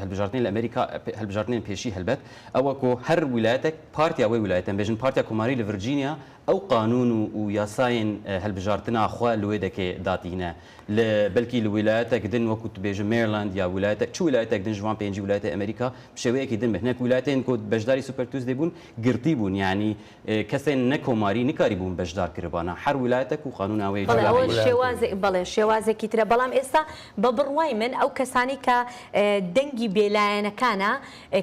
هەلبژاردنی لە ئەمریکا هەلبژاردنێن پێشی هەلبەت ئەوە کۆ هەر ویلایەتەک پارتیا وەی ویلایەتە ئەمبێژن پارتیا کۆماری لە ڤرجینیا ئەو قانون و و یاسایێن هەلبژاردنا خوە لوێ دەکێ داتینە ل بەلکی ل ویلایەتەک دن وەکوو تبێژم مێرلاند یا ویلایەتە چ ویلایەتەک دن ژوان پێنجی ویلایەتە ئەمریکا بشێوەیەکی دن بهنەک ویلایەتێن کۆ بەشداری سوپەر توسدێ بوون گرتی بوون یانی کەسێن نە کۆماری نکاری بوون بەشدار کربانە هەر ولایەتەک و قانون ئاوەیە بەڵێ جوولە ئەوە بێ. شێوازێ بەڵێ
شێوازێکی ترە بەڵام ئێستا بە بڕوای من ئەو کەسانەی کە دەنگی بێ لایەنەکانە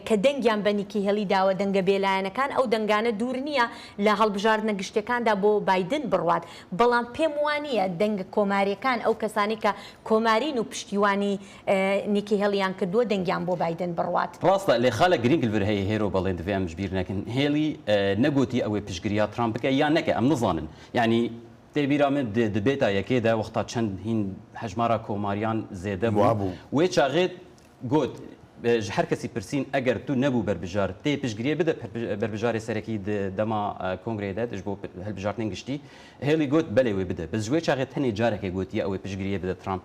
کە دەنگیان بە نیکی هێڵی داوە دەنگە بێ لایەنەکان ئەو دەنگانە دوور نییە لە هەڵبژاردنە گشتیەکاندا بۆ بایدن بڕوات بەڵام پێم وانییە دەنگە کۆماریەکان ئەو کەسانەی کە کۆمارین و پشتیوانی نیکی هێڵییان کردووە دەنگیان بۆ بایدن بڕوات. ڕاستە لێ خالە گرینگ
لڤر هەیە هێرۆ بەڵێ دڤێ ئەمش بیر نەکن هێڵی نەگۆتی ئەوێ پشگریا تڕامپ بکە یا نەکە ئەم نزانن یانی دێ بیرا من دێ دبێتا یەکێ دە وەختا چەند هین هەژمارا کۆماریان زێدە بوو وێ چاغێت گۆت ژ هەر کەسی پرسین ئەگەر تو نەبوو بەربژار تێ پشگریێ بدە بەربژارێ سەرەکی دەما کۆنگرێ دە دژ بۆ هەلبژارتنین گشتی هێڵی گۆت بەلێ وێ بدە بەس ژێ چاغێت تەنێ جارەکێ گۆتیە ئەوێ پشگریێ بدە تڕامپ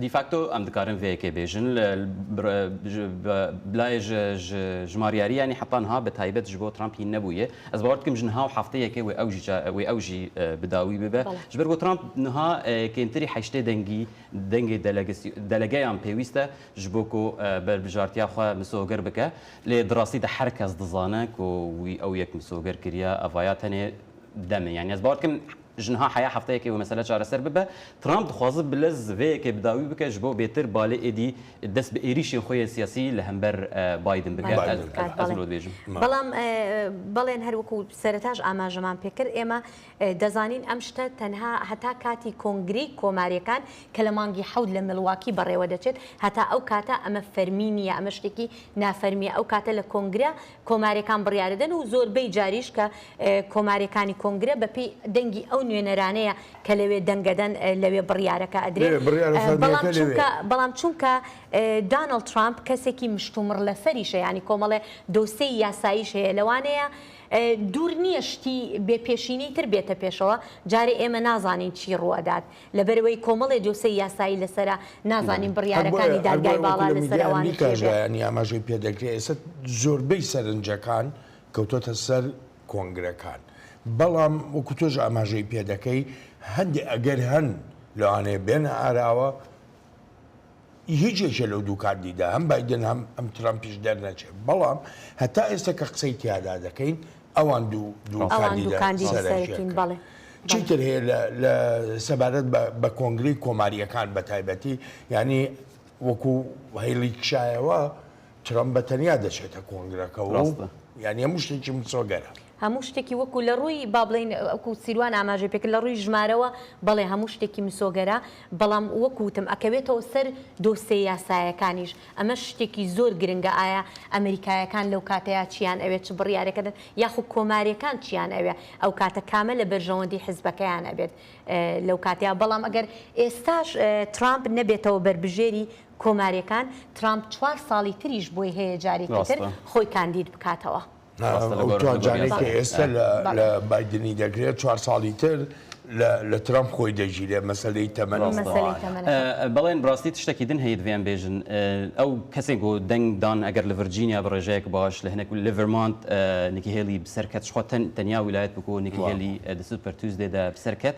دیفاکتۆ ئەم دکارن
ڤێ یەکێ بێژن بلای ژمار یاری یانی حەتان ها بە تایبەت ژبۆ ترامپ هین نەبوویێ ئەز باوەڕ دکەم ژن هاو حەفتە یەکێ وێ ئەو وێ ئەو ژی بداوی ببە ژ بەر بۆ ترامپ نها کێنتری حەیشتێ دەنگی دەنگی دەلەگەیان پێویستە ژ بۆ کۆ بەر بژارتیا خوا مسۆگەر بکە لێ دڕاستی دە هەر کەس دزانە کۆ وی ئەو یەک مسۆگەر کریا ئەڤایا تەنێ دەمێ یانی ئەز باوەڕ دکەم ژنها حەیا حەفتەیەکێ وە مەسەلە چارەسەر ببە ترامپ دخوازت بلە زڤەیەکێ بداوی بکە ژبۆ بێتر بالێ ئێدی دەس بە ئێریشێن خوەێ سیاسی لە هەمبەر بایدن بکە ئەز لۆ دبێژم. بەڵام
بەڵێن هەر وەکو سەرەتاش ئاماژەمان پێ کرد ئێمە دەزانین ئەم شتە تەنها هەتا کاتی کۆنگرەی کۆماریەکان کە لە مانگی حەوت لە ملواکی بەڕێوە دەچێت هەتا ئەو کاتە ئەمە فەرمی نیە ئەمە شتێکی نافەرمیە ئەو کاتە لە کۆنگرە کۆمارێکان بڕیارەدەن و زۆربەی جاریش کە کۆمارێکانی کۆنگرە بە پێی دەنگی ئەو نوێنەرانەیە کە لەوێ دەنگەدەن لەوێ بڕیارەکە ئەدرێت بەڵام چونکە بەڵام چونکە دانەڵ ترامپ کەسێکی مشتومڕ لەسەریشە یانی کۆمەڵێ دۆسێی یاساییش هەیە لەوانەیە دوور نییە شتی بێ پێشینەی تر بێتە پێشەوە جارێ ئێمە نازانین چی ڕووئەدات. لەبەرئەوەی کۆمەڵێ دۆسێی یاسایی لەسەرە، نازانین بڕیارەکانی دادگای باڵا لەسەر ئەوانە چی بێت. ژایانی ئاماژەی
پێدەکرێت، ئێستا زۆربەی سەرنجەکان کەوتۆتە سەر کۆنگرەکان، بەڵام وەکو تۆش ئاماژەی پێدەکەی هەندێ ئەگەر هەن لەوانەیە بێنە ئاراوە، هیچ یەکێ لەو دوو کاندیدا هەم بایدن هەم ئەم ترەمپیش دەرنەچێت، بەڵام هەتا ئێستا کە قسەی تیادا دەکەین ئەوان دوو دوو کاندیدا سەرەکین.
چی تر هەیە
لە سەبارەت بە کۆنگرەی کۆمارییەکان بەتایبەتی یانی وەکو هەیڵی کشایەوە ترەمپ بە تەنیا دەچێتە کۆنگرەکەوە و ڕاستە. یانی هەموو شتێکی مسۆگەرە. هەموو شتێکی وەکو
لە ڕووی با بڵێین وەکو سیروان ئاماژەی پێکرد لە ڕووی ژمارەوە بەڵێ هەموو شتێکی مسۆگەرە بەڵام وەکو وتم ئەکەوێتەوە سەر دۆسێ یاسایەکانیش ئەمەش شتێکی زۆر گرنگە ئایا ئەمریکایەکان لەو کاتەیا چیان ئەوێ چ بڕیارێکە دەن یاخو کۆماریەکان چیان ئەوێ ئەو کاتە کامە لە بەرژەوەندی حزبەکەیان ئەبێت لەو کاتەیا بەڵام ئەگەر ئێستاش ترامپ نەبێتەوە بەربژێری کۆماریەکان ترامپ چوار ساڵی تریش بۆی هەیە جارێکی تر خۆی کاندید بکاتەوە. ئەو چوار جارەی
کە ئێستا لە بایدنی دەگرێت چوار ساڵی تر لە ترامپ خۆی دەگیرێت مەسەلەی تەمەنە.
بەڵێن ڕاستی تشتەکی دن هەیە دڤیان بێژن ئەو کەسێک گۆ دەنگ دان ئەگەر لە ڤرجینیا بڕێژەیەک باش لە هەنێک لە ڤرمانت نکی هێلی بسەرکەت شخۆ تەن تەنیا ویلایەت بکۆ نکی هێلی دەسوت پەرتوز دێدا بسەرکەت.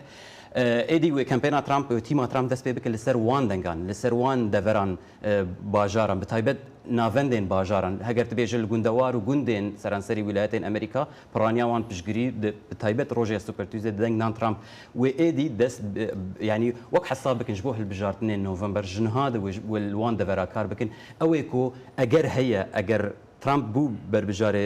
ئێدی وێ کەمپێنا ترامپ گۆتی ما ترامپ دەس پێ بکە لەسەر وان دەنگان، لەسەر وان دەڤەران باژاران بە تایبەت ناڤەندێن باژاران هەگەر تە بێژە لە گوندەوار و گوندێن سەرانسەری ویلایەتێن ئەمریکا پڕانیا وان پشگری دە بە تایبەت ڕۆژێ یا سوپەر تویزدە دەنگ نان ترامپ وێ ئێدی دەس یانی وەک حەساب بکن ژبۆ هەلبژاردنێن نۆڤەمبەر ژنها دە وێژ وێ لوان دەڤەرا کار بکن ئەوێ کۆ ئەگەر هەیە ئەگەر ترامپ بوو بەربژارێ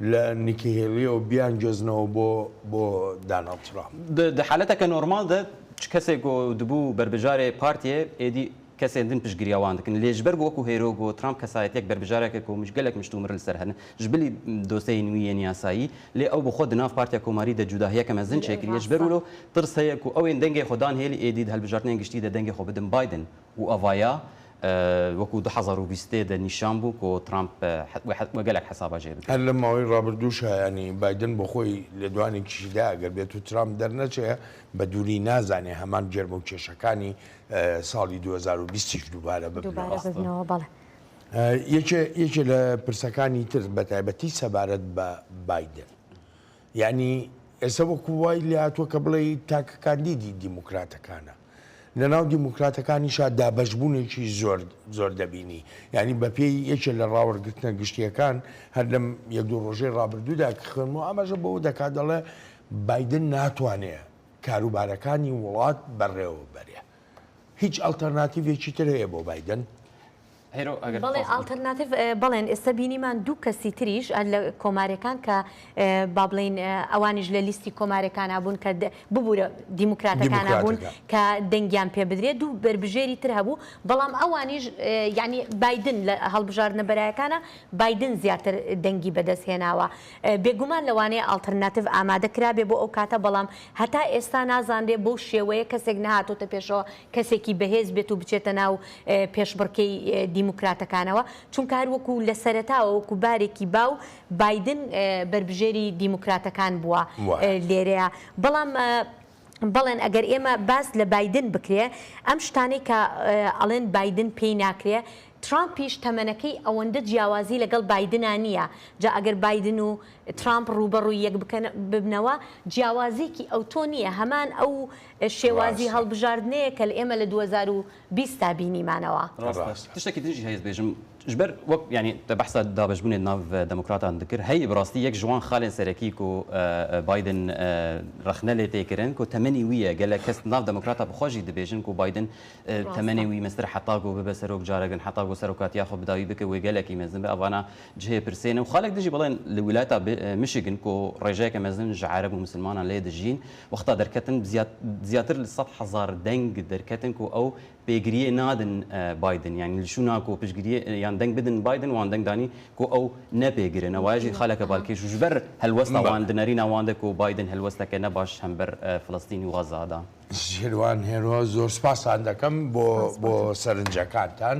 لە نیکی هێلیەوە بیانگوێزنەوە بۆ بۆ داناڵد ترامپ. د د حالەتە کە
نۆرماڵ دە چ کەسێ گۆ دبو بەربژارێ پارتیێ ئێدی کەسێ دن پشتگریاوان دکن لێ ژبەر گۆ وەکوو هێرۆ گۆ ترامپ کەسایەتیەک بەربژارێکە کۆ مش گەلەک مشت و مرل سەر هەنە ژ بلی دۆسێی نوویێن یاسایی لێ ئەو بخۆ دناڤ پارتیا کۆماری دە جوداهیەکە مەزن چێکریە ژبەر ولۆ ترسەیە کوو ئەوێن دەنگێ خۆ دان هێلی ئێدی د هەلبژارتنێن گشتی دە دەنگێ خۆ بدن بایدن و ئەڤایا وەکو دوو هەزار و بیست و سێ دەنیشان بوو کۆ ترامپ وە گەلەک حەسابا جێ بکەن. هەر لەم ماوەی ڕابردوو
شایانی بایدن بۆ خۆی لێدوانێکیشی دا ئەگەر بێتو ترامپ دەرنەچێ بە دووری نازانێ هەمان گەرمە و کێشەکانی ساڵی دوو هەزار و بیست یش دووبارە ببنەوە. یەکێ لە پرسەکانی تر بە تایبەتی سەبارەت بە بایدن یەعنی ئێستا وەکو وای لێهاتووە کە بڵێی تاکە کاندیدی دیموکراتەکانە. لە ناو دیموکراتەکانیشا دابەشبوونێکی زۆر زۆر دەبینی. یەعنی بە پێی یەکێ لە ڕاوەرگرتنە گشتییەکان هەر لەم یەک دوو ڕۆژەی ڕابردوودا کە خوێندمەوە ئاماژە بەوە دەکا دەڵێ بایدن ناتوانێ کاروبارەکانی وڵات بەڕێوە بەرێ. هیچ ئەڵتەرناتیڤێکی تر هەیە بۆ بایدن؟
بەڵێ ئاڵتەرناتیڤ بەڵێن ئێستا بینیمان دوو کەسی تریش لە کۆمارەکان کە با بڵین ئەوانیش لە لیستی کۆمارەکانە بوون کە ببوورە دیموکراتەکانە بوون کە دەنگیان پێ بدرێت دوو بەربژێری تر هەبوو بەڵام ئەوانیش ینی بادن لە هەڵبژاردنە بەرایەکانە بادن زیاتر دەنگی بەدەست هێناوە بێگومان لەوانەیە ئاڵتەرناتیڤ ئامادە کرابێ بۆ ئەو کاتە بەڵام هەتا ئێستا نازانرێ بۆ شێوەیە کەسێک نهاتۆتە پێشەوە کەسێکی بەهێز بێت و بچێتە ناو پێشبڕکێی دیموکراتەکانەوە، چونکە هەر وەکو لە سەرەتاوە وەکو بارێکی باو بایدن بەربژێری دیموکراتەکان بووە لێرەیا، بەڵام بەڵێن ئەگەر ئێمە باس لە بایدن بکرێ ئەم شتانەی کە ئەڵێن بایدن پێی ناکرێ ترامپیش تەمەنەکەی ئەوەندە جیاوازی لەگەڵ بایدنا نییە، جا ئەگەر بایدن و ترامپ ڕووبەڕووی یەک ببنەوە جیاوازیەکی ئەوتۆ نییە هەمان ئەو شێوازی هەڵبژاردنەیەکە لە ئێمە لە دوو هەزار و بیست تا بینیمانەوە. ڕاستە تشتەکی تریش
هەیەت بێژم جبەر وەک یانی دە بەحسا دابەش بونێ ناڤ دەموکراتان دکر هەی بڕاستی یەک ژوان خالێن سەرەکی کو بایدن ڕەخنە لێ تێ کرن کو تەمەنی ویە گەلەک کەس ناڤ دەموکراتا بخوا ژی دبێژن کو بایدن تەمەنێ وی مەسترە حەتا گۆ ببە سەرۆک جارەگن حەتا گۆ سەرۆکاتیا خۆ بداوی بکە وێ گەلەکی مەزن بە ئەڤانا جهێ پرسێنە و خالێک دژی بڵێن لە ولایتا مشیگن کو ڕێژەێکە مەزن ژە عەرەب و مسلمانان لێ دژین وەختا دەرکەتن زیاد زیاتر لە سەد هەزار دەنگ دەرکەتن کو ئەو پێگریێ نادن بایدن یانی لشو ناکو پشگریێ یان دەنگ بدن بایدن وان دەنگ دانی کو ئەو نە پێگرن ئەوە ژی خالەکە بالکێش و ژبەر هەلوەستا وان دنەری ناواندە کو بایدن هەلوەستا کە نە باش هەم بەر فلستین و غەزا دا.
شیروان هێرۆ زۆر سپاستان دەکەم بۆ بۆ سەرنجەکانتان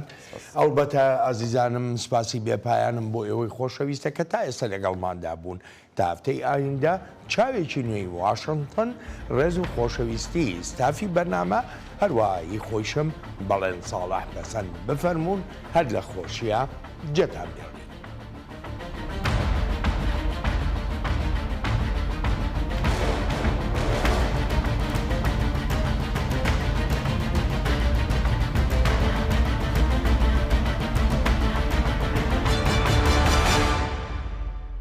ئەڵبەتە ئازیزانم سپاسی بێ پایانم بۆ ئێوەی خۆشەویستە کە تا ئێستا لەگەڵماندا بوون تا هەفتەی ئایندە چاوێکی نوێی واشنتن ڕێز و خۆشەویستی ستافی بەرنامە هەروەها هی خۆیشم بەڵێن ساڵح پەسەند بفەرموون هەر لە خۆشیە جێتان بێت.